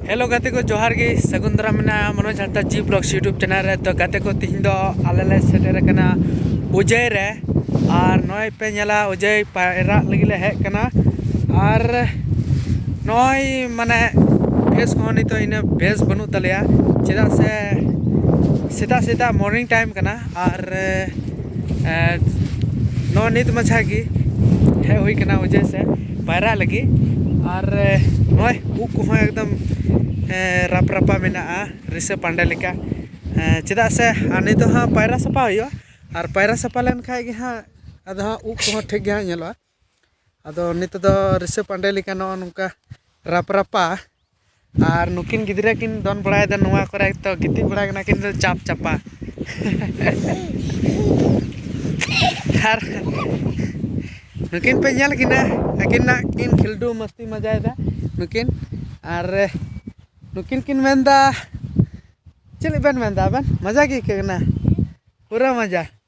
hello ᱜᱟᱛᱮ ᱠᱚ ᱡᱚᱦᱟᱨ ᱜᱮ ᱥᱟᱹᱜᱩᱱ ᱫᱟᱨᱟᱢ ᱢᱮᱱᱟᱜᱼᱟ Manoj Hansda ji blogs YouTube channel ᱨᱮ ᱛᱚ ᱜᱟᱛᱮ ᱠᱚ ᱛᱤᱦᱤᱧ ᱫᱚ ᱟᱞᱮ ᱞᱮ ᱥᱮᱴᱮᱨ ᱟᱠᱟᱱᱟ ᱩᱡᱟᱹᱭ ᱨᱮ ᱟᱨ ᱱᱚᱜᱼᱚᱭ ᱯᱮ ᱧᱮᱞᱟ ᱩᱡᱟᱹᱭ ᱯᱟᱭᱨᱟᱜ ᱞᱟᱹᱜᱤᱫ ᱞᱮ ᱦᱮᱡ ᱟᱠᱟᱱᱟ ᱟᱨ ᱱᱚᱜᱼᱚᱭ ᱢᱟᱱᱮ ᱵᱮᱥ ᱠᱚᱦᱚᱸ ᱱᱤᱛᱚᱜ ᱤᱱᱟᱹ ᱵᱮᱥ ᱵᱟᱹᱱᱩᱜ ᱛᱟᱞᱮᱭᱟ ᱪᱮᱫᱟᱜ ᱥᱮ ᱥᱮᱛᱟᱜ ᱥᱮᱛᱟᱜ ᱢᱚᱨᱱᱤᱝ ᱴᱟᱭᱤᱢ ᱠᱟᱱᱟ ᱟᱨ ᱱᱚᱜᱼᱚᱭ ᱱᱤᱛ ᱢᱟᱪᱷᱟ ᱜᱮ ᱦᱮᱡ ᱦᱩᱭ ᱟᱠᱟᱱᱟ ᱩᱡᱟᱹᱭ ᱥᱮᱫ ᱯᱟᱭᱨᱟᱜ ᱞᱟᱹᱜᱤᱫ ᱟᱨ ᱱᱚᱜᱼᱚᱭ ᱩᱵ ᱠᱚᱦᱚᱸ ᱮᱠᱫᱚᱢ ᱨᱟᱯ ᱨᱟᱯᱟ ᱢᱮᱱᱟᱜᱼᱟ ᱨᱤᱥᱟᱹ ᱯᱟᱱᱰᱮ ᱞᱮᱠᱟ ᱪᱮᱫᱟᱜ ᱥᱮ ᱟᱨ ᱱᱤᱛ ᱫᱚ ᱦᱟᱸᱜ ᱯᱟᱭᱨᱟ ᱥᱟᱯᱷᱟ ᱦᱩᱭᱩᱜᱼᱟ ᱟᱨ ᱯᱟᱭᱨᱟ ᱥᱟᱯᱷᱟ ᱞᱮᱱᱠᱷᱟᱡ ᱜᱮ ᱦᱟᱸᱜ ᱟᱫᱚ ᱦᱟᱸᱜ ᱩᱵ ᱠᱚᱦᱚᱸ ᱴᱷᱤᱠ ᱜᱮ ᱦᱟᱸᱜ ᱧᱮᱞᱚᱜᱼᱟ ᱟᱫᱚ ᱱᱤᱛᱚᱜ ᱫᱚ ᱨᱤᱥᱟᱹ ᱯᱟᱱᱰᱮ ᱞᱮᱠᱟ ᱱᱚᱜᱼᱚ ᱱᱚᱝᱠᱟ ᱨᱟᱯ ᱨᱟᱯᱟ ᱟᱨ ᱱᱩᱠᱤᱱ ᱜᱤᱫᱽᱨᱟᱹ ᱠᱤᱱ ᱫᱚᱱ ᱵᱟᱲᱟᱭᱮᱫᱟ ᱱᱚᱣᱟ ᱠᱚᱨᱮ ᱛᱚ ᱜᱤᱛᱤᱡ ᱵᱟᱲᱟ ᱠᱟᱱᱟ ᱠᱤᱱ ᱫᱚ ᱪᱟᱯ ᱪᱟᱯᱟ ᱟᱨ ᱱᱩᱠᱤᱱ ᱯᱮ ᱧᱮᱞ ᱠᱤᱱᱟ ᱟᱹᱠᱤᱱᱟᱜ ᱠᱤᱱ ᱠᱷᱤᱞᱰᱩ ᱢᱟᱹᱥᱛᱤ ᱢᱟᱡᱟᱭᱮᱫᱟ ᱱᱩᱠᱤᱱ ᱟᱨ ᱱᱩᱠᱤᱱ ᱠᱤᱱ ᱢᱮᱱᱫᱟ ᱪᱮᱫ ᱵᱮᱱ ᱢᱮᱱᱫᱟ ᱟᱵᱮᱱ ᱢᱟᱡᱟ ᱜᱮ ᱟᱹᱭᱠᱟᱹᱜ ᱠᱟᱱᱟ ᱯᱩᱨᱟᱹ ᱢᱟᱡᱟ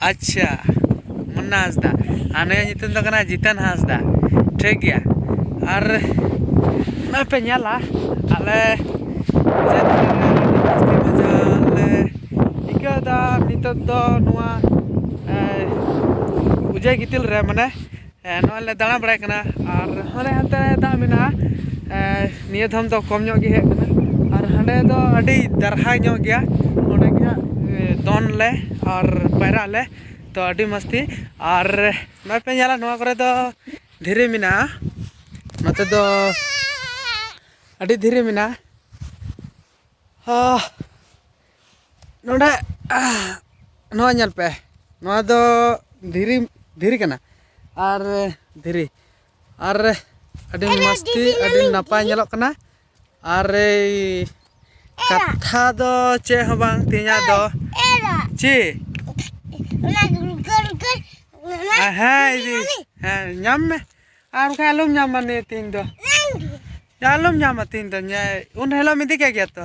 ᱟᱪᱪᱷᱟ ᱢᱩᱱᱱᱟ ᱦᱟᱸᱥᱫᱟ ᱟᱨ ᱱᱩᱭᱟᱜ ᱧᱩᱛᱩᱢ ᱫᱚ ᱠᱟᱱᱟ ᱡᱤᱛᱮᱱ ᱦᱟᱸᱥᱫᱟ ᱴᱷᱤᱠ ᱜᱮᱭᱟ ᱟᱨ ᱱᱚᱜᱼᱚᱸᱭ ᱯᱮ ᱧᱮᱞᱟ ᱟᱞᱮ ᱴᱷᱤᱠᱟᱹᱭᱫᱟ ᱱᱤᱛᱚᱜ ᱫᱚ ᱱᱚᱣᱟ ᱚᱡᱮ ᱜᱤᱛᱤᱞ ᱨᱮ ᱢᱟᱱᱮ ᱱᱚᱜᱼᱚᱭ ᱞᱮ ᱫᱟᱬᱟ ᱵᱟᱲᱟᱭ ᱠᱟᱱᱟ ᱟᱨ ᱦᱟᱱᱮ ᱦᱟᱱᱛᱮ ᱫᱟᱜ ᱢᱮᱱᱟᱜᱼᱟ ᱱᱤᱭᱟᱹ ᱫᱷᱟᱢ ᱫᱚ ᱠᱚᱢ ᱧᱚᱜ ᱜᱮ ᱦᱮᱡ ᱠᱟᱱᱟ ᱟᱨ ᱦᱟᱸᱰᱮ ᱫᱚ ᱟᱹᱰᱤ ᱫᱟᱨᱦᱟ ᱧᱚᱜ ᱜᱮᱭᱟ ᱚᱸᱰᱮ ᱜᱮ ᱦᱟᱸᱜ ᱫᱚᱱ ᱞᱮ ᱟᱨ ᱯᱟᱭᱨᱟᱜ ᱟᱞᱮ ᱛᱚ ᱟᱹᱰᱤ ᱢᱚᱥᱛᱤ ᱟᱨ ᱱᱚᱜᱼᱚᱭ ᱯᱮ ᱧᱮᱞᱟ ᱱᱚᱣᱟ ᱠᱚᱨᱮ ᱫᱚ ᱫᱷᱤᱨᱤ ᱢᱮᱱᱟᱜᱼᱟ ᱱᱚᱛᱮ ᱫᱚ ᱟᱹᱰᱤ ᱫᱷᱤᱨᱤ ᱢᱮᱱᱟᱜᱼᱟ ᱱᱚᱰᱮ ᱱᱚᱣᱟ ᱧᱮᱞ ᱯᱮ ᱱᱚᱣᱟ ᱫᱚ ᱫᱷᱤᱨᱤ ᱫᱷᱤᱨᱤ ᱠᱟᱱᱟ ᱟᱨ ᱫᱷᱤᱨᱤ ᱟᱨ ᱟᱹᱰᱤ ᱢᱚᱥᱛᱤ ᱟᱹᱰᱤ ᱱᱟᱯᱟᱭ ᱧᱮᱞᱚᱜ ᱠᱟᱱᱟ ᱟᱨ ᱠᱟᱛᱷᱟ ᱫᱚ ᱪᱮᱫ ᱦᱚᱸ ᱵᱟᱝ ᱛᱮᱦᱮᱧᱟᱜ ᱫᱚ ᱪᱮᱫ ᱦᱮᱸ ᱤᱫᱤ ᱦᱮᱸ ᱧᱟᱢ ᱢᱮ ᱟᱨ ᱵᱟᱠᱷᱟᱡ ᱟᱞᱚᱢ ᱧᱟᱢᱟ ᱱᱤᱭᱟᱹ ᱛᱮᱦᱮᱧ ᱫᱚ ᱟᱞᱚᱢ ᱧᱟᱢᱟ ᱛᱮᱦᱮᱧ ᱫᱚ ᱩᱱ ᱦᱤᱞᱳᱜ ᱮᱢ ᱤᱫᱤ ᱠᱮᱫ ᱜᱮᱭᱟ ᱛᱚ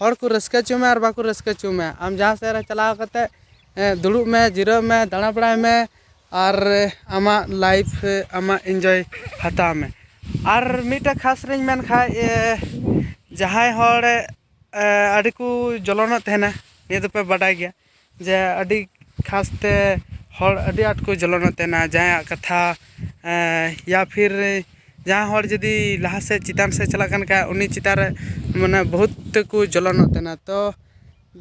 ᱦᱚᱲ ᱠᱚ ᱨᱟᱹᱥᱠᱟᱹ ᱦᱚᱪᱚᱭ ᱢᱮ ᱟᱨ ᱵᱟᱠᱚ ᱨᱟᱹᱥᱠᱟᱹ ᱦᱚᱪᱚᱜ ᱢᱮ ᱟᱢ ᱡᱟᱦᱟᱸ ᱥᱮᱫ ᱨᱮ ᱪᱟᱞᱟᱣ ᱠᱟᱛᱮᱫ ᱫᱩᱲᱩᱵ ᱢᱮ ᱡᱤᱨᱟᱹᱜ ᱢᱮ ᱫᱟᱬᱟ ᱵᱟᱲᱟᱭ ᱢᱮ ᱟᱨ ᱟᱢᱟᱜ ᱞᱟᱭᱤᱯᱷ ᱨᱮ ᱟᱢᱟᱜ ᱤᱱᱡᱚᱭ ᱦᱟᱛᱟᱣ ᱢᱮ ᱟᱨ ᱢᱤᱫᱴᱮᱱ ᱠᱷᱟᱥ ᱨᱤᱧ ᱢᱮᱱ ᱠᱷᱟᱱ ᱡᱟᱦᱟᱸᱭ ᱦᱚᱲ ᱟᱹᱰᱤ ᱠᱚ ᱡᱚᱞᱚᱱᱚᱜ ᱛᱟᱦᱮᱱᱟ ᱱᱤᱭᱟᱹ ᱫᱚᱯᱮ ᱵᱟᱰᱟᱭ ᱜᱮᱭᱟ ᱡᱮ ᱟᱹᱰᱤ ᱠᱷᱟᱥ ᱛᱮ ᱦᱚᱲ ᱟᱹᱰᱤ ᱟᱸᱴ ᱠᱚ ᱡᱚᱞᱚᱱ ᱮᱫ ᱛᱟᱦᱮᱱᱟ ᱡᱟᱦᱟᱸᱭᱟᱜ ᱠᱟᱛᱷᱟ ᱤᱭᱟ ᱯᱷᱤᱨ ᱡᱟᱦᱟᱸᱭ ᱦᱚᱲ ᱡᱩᱫᱤ ᱞᱟᱦᱟ ᱥᱮᱫ ᱪᱮᱛᱟᱱ ᱥᱮᱫ ᱪᱟᱞᱟᱜ ᱠᱟᱱ ᱠᱷᱟᱡ ᱩᱱᱤ ᱪᱮᱛᱟᱱ ᱨᱮ ᱢᱟᱱᱮ ᱵᱚᱦᱩᱛ ᱛᱮᱠᱚ ᱡᱚᱞᱚᱱᱚᱜ ᱛᱟᱦᱮᱱᱟ ᱛᱚ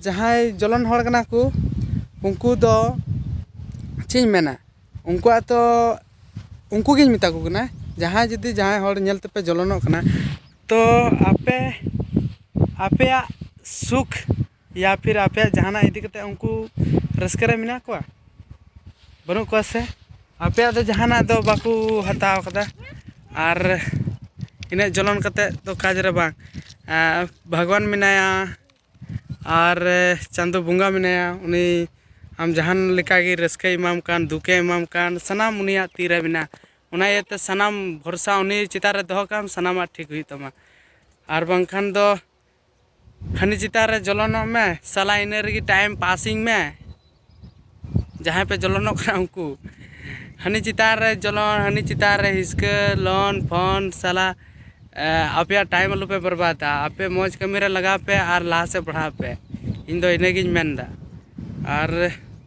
ᱡᱟᱦᱟᱸᱭ ᱡᱚᱞᱚᱱ ᱦᱚᱲ ᱠᱟᱱᱟ ᱠᱚ ᱩᱱᱠᱩ ᱫᱚ ᱪᱮᱫ ᱤᱧ ᱢᱮᱱᱟ ᱩᱱᱠᱩᱣᱟᱜ ᱛᱚ ᱩᱱᱠᱩ ᱜᱮᱧ ᱢᱮᱛᱟ ᱠᱚ ᱠᱟᱱᱟ ᱡᱟᱦᱟᱸᱭ ᱡᱩᱫᱤ ᱡᱟᱦᱟᱸᱭ ᱦᱚᱲ ᱧᱮᱞ ᱛᱮᱯᱮ ᱡᱚᱞᱚᱱᱚᱜ ᱠᱟᱱᱟ ᱛᱚ ᱟᱯᱮ ᱟᱯᱮᱭᱟᱜ ᱥᱩᱠ ᱭᱟ ᱯᱷᱤᱨ ᱟᱯᱮᱭᱟᱜ ᱡᱟᱦᱟᱱᱟᱜ ᱤᱫᱤ ᱠᱟᱛᱮᱫ ᱩᱱᱠᱩ ᱨᱟᱹᱥᱠᱟᱹ ᱨᱮ ᱢᱮᱱᱟᱜ ᱠᱚᱣᱟ ᱵᱟᱹᱱᱩᱜ ᱠᱚᱣᱟ ᱥᱮ ᱟᱯᱮᱭᱟᱜ ᱫᱚ ᱡᱟᱦᱟᱱᱟᱜ ᱫᱚ ᱵᱟᱠᱚ ᱦᱟᱛᱟᱣ ᱠᱟᱫᱟ ᱟᱨ ᱤᱱᱟᱹᱜ ᱡᱚᱞᱚᱱ ᱠᱟᱛᱮᱫ ᱫᱚ ᱠᱟᱡᱽ ᱨᱮ ᱵᱟᱝ ᱵᱷᱟᱜᱽᱣᱟᱱ ᱢᱮᱱᱟᱭᱟ ᱟᱨ ᱪᱟᱸᱫᱚ ᱵᱚᱸᱜᱟ ᱢᱮᱱᱟᱭᱟ ᱩᱱᱤ ᱟᱢ ᱡᱟᱦᱟᱱ ᱞᱮᱠᱟ ᱜᱮ ᱨᱟᱹᱥᱠᱟᱹᱭ ᱮᱢᱟᱢ ᱠᱟᱱ ᱫᱩᱠᱮ ᱮᱢᱟᱢ ᱠᱟᱱ ᱥᱟᱱᱟᱢ ᱩᱱᱤᱭᱟᱜ ᱛᱤ ᱨᱮ ᱢᱮᱱᱟᱜᱼᱟ ᱚᱱᱟ ᱤᱭᱟᱹᱛᱮ ᱥᱟᱱᱟᱢ ᱵᱷᱚᱨᱥᱟ ᱩᱱᱤ ᱪᱮᱛᱟᱱ ᱨᱮ ᱫᱚᱦᱚ ᱠᱟᱜ ᱟᱢ ᱥᱟᱱᱟᱢᱟᱜ ᱴᱷᱤᱠ ᱦᱩᱭᱩᱜ ᱛᱟᱢᱟ ᱟᱨ ᱵᱟᱝᱠᱷᱟᱱ ᱫᱚ ᱦᱟᱹᱱᱤ ᱪᱮᱛᱟᱱ ᱨᱮ ᱡᱚᱞᱚᱱᱚᱜ ᱢᱮ ᱥᱟᱞᱟ ᱤᱱᱟᱹ ᱨᱮᱜᱮ ᱴᱟᱭᱤᱢ ᱯᱟᱥᱤᱝ ᱢᱮ ᱡᱟᱦᱟᱸᱭ ᱯᱮ ᱡᱚᱞᱚᱱᱚᱜ ᱠᱟᱱᱟ ᱩᱱᱠᱩ ᱦᱟᱹᱱᱤ ᱪᱮᱛᱟᱱ ᱨᱮ ᱡᱚᱞᱚᱱ ᱦᱟᱹᱱᱤ ᱪᱮᱛᱟᱱ ᱨᱮ ᱦᱤᱥᱠᱟᱹ ᱞᱚᱱ ᱯᱷᱚᱱ ᱥᱟᱞᱟ ᱟᱯᱮᱭᱟᱜ ᱴᱟᱭᱤᱢ ᱟᱞᱚᱯᱮ ᱵᱚᱨᱵᱟᱫᱟ ᱟᱯᱮ ᱢᱚᱡᱽ ᱠᱟᱹᱢᱤᱨᱮ ᱞᱟᱜᱟᱣ ᱯᱮ ᱟᱨ ᱞᱟᱦᱟ ᱥᱮᱫ ᱯᱟᱲᱦᱟᱜ ᱯᱮ ᱤᱧᱫᱚ ᱤᱱᱟᱹᱜᱤᱧ ᱢᱮᱱᱫᱟ ᱟᱨ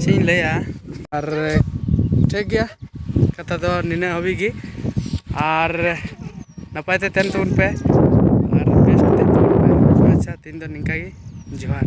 ᱪᱮᱫ ᱤᱧ ᱞᱟᱹᱭᱟ ᱟᱨ ᱴᱷᱤᱠ ᱜᱮᱭᱟ ᱠᱟᱛᱷᱟ ᱫᱚ ᱱᱤᱱᱟᱹᱜ ᱦᱟᱹᱵᱤᱡ ᱜᱮ ᱟᱨ ᱱᱟᱯᱟᱭ ᱛᱮ ᱛᱟᱦᱮᱱ ᱛᱟᱵᱚᱱ ᱯᱮ ᱟᱨ ᱵᱮᱥ ᱛᱮ ᱛᱟᱦᱮᱱ ᱛᱟᱵᱚᱱ ᱯᱮ ᱟᱪᱪᱷᱟ ᱛᱮᱦᱮᱧ ᱫᱚ ᱱᱤᱝᱠᱟ ᱜᱮ ᱡᱚᱦᱟᱨ